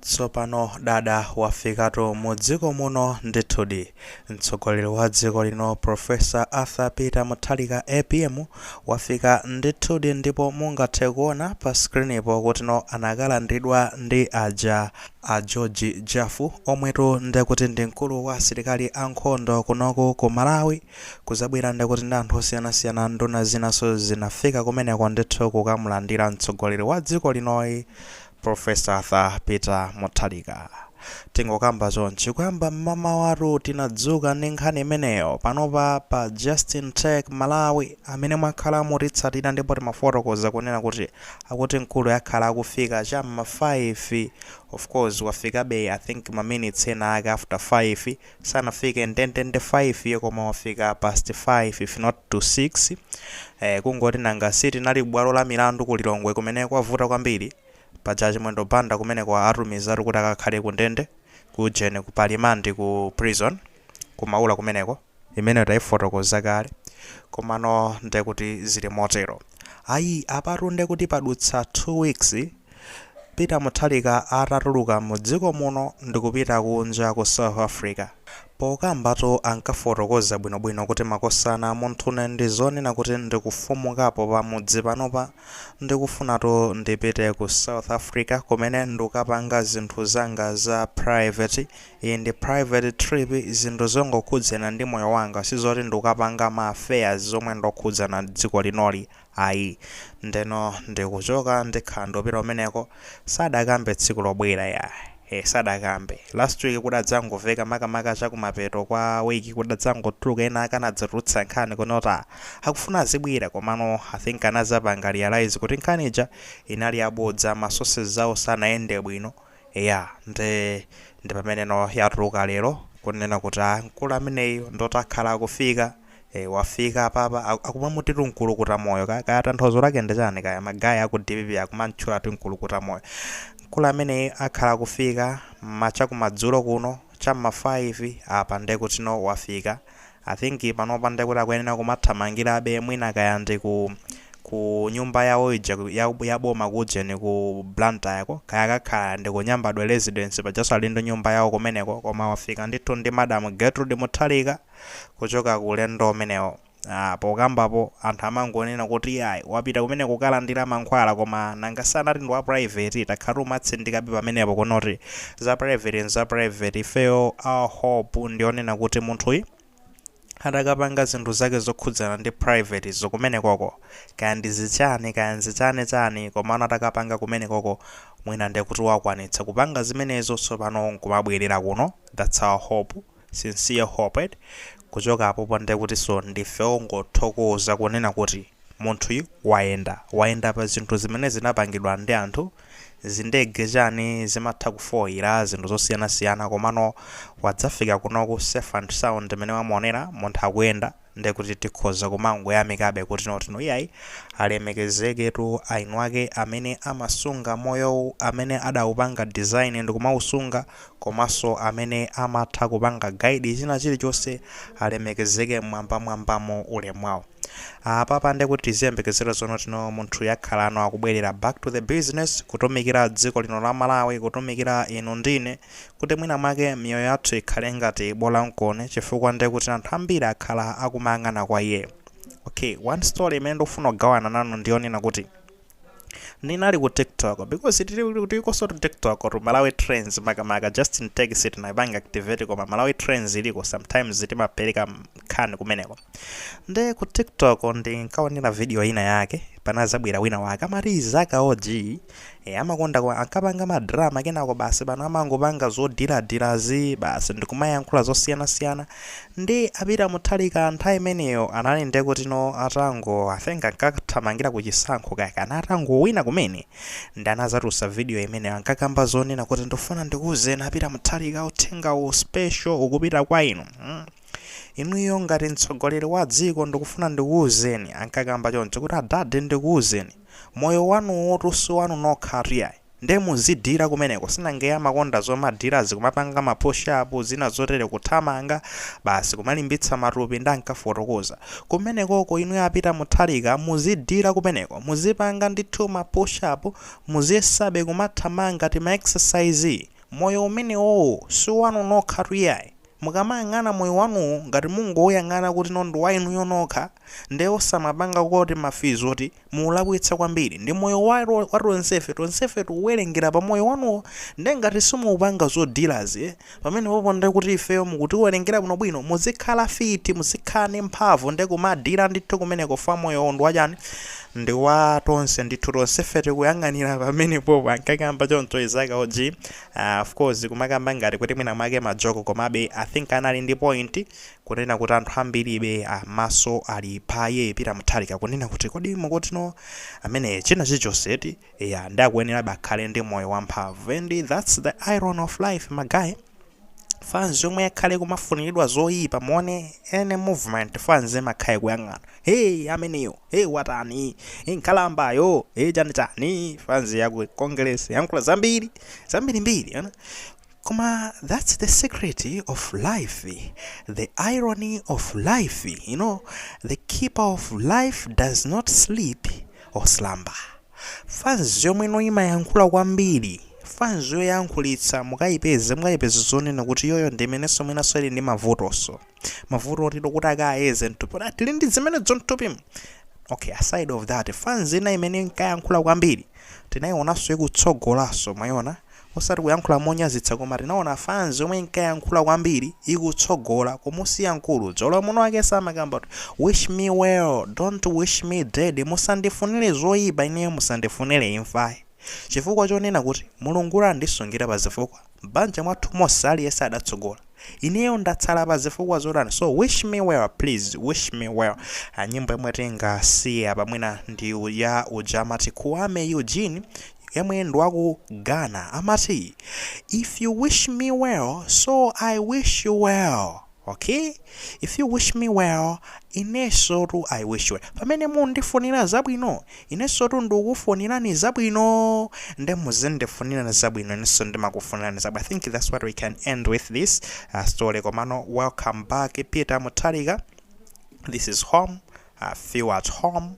Tsopano dada wafikatu mu dziko muno ndithudi. Mtsogoleri wa dziko lino Prof. Arthur Peter Mutharika, apm, wafika ndithudi ndipo mungathe kuona pa screen po kutino anakalandidwa ndi aja a George Jaffu omwetu ndekuti ndi mkulu wa asilikali a nkhondo kunoku ku Malawi. Kudzabwera ndekuti ndi anthu osiyanasiyana nduna zinanso zinafika kumeneko ndithu kukamulandira mtsogoleri wa dziko linoyi Prof. Arthur Peter Mutharika. Tingokamba chonchi kuyamba mmamawatu tinadzuka ndi nkhani imeneyo panopa pa Just in Tech Malawi amene mwakhala mutitsatira ndipo timafotokoza kunena kuti akuti mkuluyu akhala akufika cha mma 5 of course wafikabe I think ma minutes ena ake after 5 sanafike ndendende 5 koma wafika past 5 if not to 6 eh, kungoti nanga sitinali bwalo la milandu ku lilongwe kumene kwavuta kwambiri paja achimwendo banda kumene kawatumizatu kuti akakhale ku ndende ku ujeni ku palimandi ku prison kumaula kumeneko imeneyo tayifotokoza kale komano ndekuti zili motero ayi apatu ndekuti padutsa 2 weeks Peter Mutharika atatuluka mu dziko muno ndikupita kunja ku South Africa, pokambatu ankafotokoza bwinobwino kuti makosana munthune ndi zonena kuti ndikufumukapo pa mudzi panopa ndikufunatu ndipite ku South Africa kumene ndikapanga zinthu zanga za private, iyi ndi private trip zinthu zongokhudzana ndi moyo wanga sizoti ndikapanga ma affairs zomwe ndokhudzana dziko linoli. Ayi. Ndeno ndikuchoka ndikhala ndupita kumeneko, sadakambe tsiku lobwera ya. Eh, sadakambe. Last week kudadzangomveka makamaka chakumapeto kwa week kudadzangotuluka ena ake anadzatulutsa nkhani kunota akufuna azibwera komano I think anadzapanga realize kuti nkhani ija inali yabodza ma sources zawo sanayende bwino. Eya nde ndipamene no yatuluka lero kunena kuti a mkulu ameneyu ndoti akhala akufika e, wafika apapa a- akumamutitu mkulukuta moyo ka, kaya tanthauzo lake ndi chani kaya ma guys aku dpp akumamtchula ti mkulukuta moyo mkulu ameneyu akhala akufika ma chakumadzulo kuno cha mma 5 apa ndekutino wafika I think panopa nde kuti akuyenera kumathamangirabe mwina kaya ndi ku ku nyumba yawo ija ku- ya, ya boma ku ujeni ku Blantyre ko kaya akakhala ndi ku Nyambadwe residence pajaso ali ndi nyumba yawo kumeneko koma wafika ndithu ndi Madam Gertrude Mutharika kuchoka ku ulendo umenewo. Ah, pokambapo anthu amangonena kuti iyayi wapita kumene kukalandira mankhwala koma nanga si anati ndi wa private takhala timatsindikabe pamenepo kunoti za private ndi za private ifeyo our hope ndionena kuti munthuyi atakapanga zinthu zake zokhudzana ndi private zo kumenekoko kaya ndizichani kaya nzichani chani komano atakapanga kumenekoko mwina ndekuti wakwanitsa kupanga zimenezo tsopano nkumabwerera kuno that's our hope sincere hope kuchoka apopo ndekutinso ndife ongothokoza kunena kuti munthuyu wayenda wayenda pa zinthu zimene zinapangidwa ndi anthu zindege chani zimatha kufoyira zinthu zosiyanasiyana komano wadzafika kunoku safe and sound mene mwamuonera munthu akuyenda ndekuti tikhoza kumangoyamikabe kunoti no iyayi alemekezeketu aeni ake amene amasunga moyowu amene adaupanga design ndikumausunga komanso amene amatha kupanga guide china chilichonse alemekezeke mmwambamwambamo ulemu wawo apapa ndekuti tiziyembekezera zonoti no munthuyu akhalano akubwerera back to the business kutumikira dziko lino la Malawi kutumikira inu ndine kuti mwina mwake miyoyo yathu ikhale ngati bola nkoni chifukwa ndiye kuti anthu ambiri akhala akumayang'ana kwa iyeyo okay one story imene ndikufuna kugawana nanu ndiyonena kuti ndinali ku tiktok because tilikonsotu tiktok tu malawi trends makamaka Justin Tech sitinayipange activate koma malawi trends iliko sometimes timapereka nkhani kumeneko nde ku tiktok ndinkaonera video ina yake panazabwera wina wake amati Izaka OG, amakonda kwa- ankapanga madrama kenako basi pano amangopanga zodiladirazi basi ndikumayankhula zosiyanasiyana nde a Peter Mutharika nthawi imeneyo anali ndekuti no atango i think ankathamangira ku chisankho kake anali atangowina kumene nde anazatulutsa video imene ankakamba zonena kuti ndifuna ndikuwuzeni a Peter Mutharika uthenga u special ukupita kwa inu mm. Inuyo ngati mtsogoleri wa dziko ndikufuna ndikuuzeni, ankakamba choncho, kuti adadi ndikuuzeni, moyo wanuwotu si wanu nokhatu yayi. Nde muzidhila kumeneko, si nanga iye amakonda zomadhilazi kumapanga ma push up zina zotere kuthamanga basi kumalimbitsa matupi nde ankafotokoza. Kumenekoko inuyo a Peter Mutharika muzidhila kumeneko, muzipanga ndithu ma push up, muziyesabe kumathamanga tima exercise, moyo umenewowo si wanu nokhatu yayi. Mukamayang'ana moyo wanuwu ngati mungouyang'ana kuti no ndi wa inuyo nokha nde osamapanga kuti ma physo oti mukulakwitsa kwambiri ndi moyo wa wa tonsefe tonsefe tikuwelengera pa moyo wanuwo nde ngati simuupanga zodilazi pamenepopo nde kuti ifeyo simukutiwelengera bwino bwino muzikhala fiti muzikhala ndi mphamvu nde kumadila ndithu kumeneko fwa moyowo ndi wa chani ndi wa tonse ndithu tonsefe tikuyang'anira pamenepopo ankakamba choncho Izaka OG. Aaa of course kumakamba ngati kuti mwina mwake ma joke komabe I think anali ndi point kunena kuti anthu ambiribe maso ali pa iye Peter Mutharika kunena kuti kodi mukuti no ameneyi china chilichonse eti eya nde akuyenerabe akhale ndi moyo wamphamvu and that's the irony of life ma guy fans yomwe yakhale kumafuniridwa zoyipa muwone any movement fans imakhala kuyang'ana hey ameneyo Hey watani nkhalambayo hey chani chani fanzi yaku congress yayankhula zambiri zambirimbiri koma that's the secret of life the irony of life you know the keeper of life does not sleep or slumber fanzi yomwe imayankhula kwambiri fanzi yoyankhulitsa mukayipeze mukayipeze zonena kuti iyoyo ndi imenenso mwinanso ili ndi mavutonso mavuto oti kuti akayeze mthupi tili ndi zimenezo mthupimu okay aside of that fans ina imene inkayankhula kwambiri tinayionanso ikutsogolanso mwaiona osati kuyankhula monyazitsa koma tinaona fans yomwe inkayankhula kwambiri ikutsogola kumusiya mkulu nzoona mwiniwake amakamba kuti wish me well don't wish me dead musandifunire zoyipa ineyo musandifunire imfa chifukwa chonena kuti mulungu andisungira pa zifukwa M'banja mwathu monse aliyense adatsogola ineyo ndatsala pa zifukwa zotani so wish me well please wish me well and nyimbo yomwe tingasiye apa mwina ndi ya uja amati Kuami Eugene yemwe ndi waku Ghana amati if you wish me well so i wish you well Ok if you wish me well inensotu I wish you well pamene mundifunira zabwino inensotu ndikukufunirani zabwino nde muzindifunira zabwino inenso ndimakufunirani zabwino I think that's what we can end with this uh, story komano welcome back Peter Mutharika this is home feel at home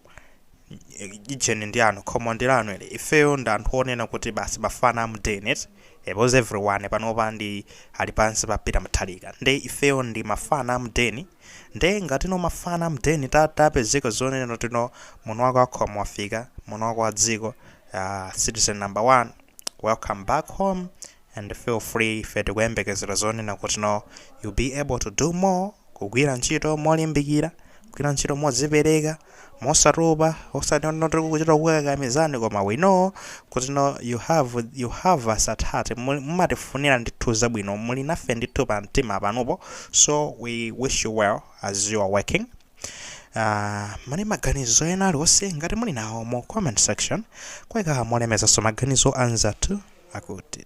deni ndi yanu khomo ndi lanu ili ifeyo ndi anthu onena kuti basi mafana amudeni because everyone panopa ndi ali pansi pa Peter Mutharika nde ifeyo ndi mafana amudeni nde ngatino mafana amudeni ta- tapezeka zonena tino mwiniwake wa khomo wafika mwiniwake wa dziko uh, citizen number one welcome back home and feel free ife tikuyembekezera zonena kuti no you'll be able to do more kugwira ntchito molimbikira kugwira ntchito modzipereka mosatopa osati no tikuchita kukakamizani koma we know kuti no you have you have us at heart Muli- mumatifunira ndithu zabwino muli nafe ndithu pa mtima panupo so we wish you well as you are working Uh, muli maganizo ena aliwonse ngati muli nawo mu comment section koma molemekezanso maganizo a anzathu akuti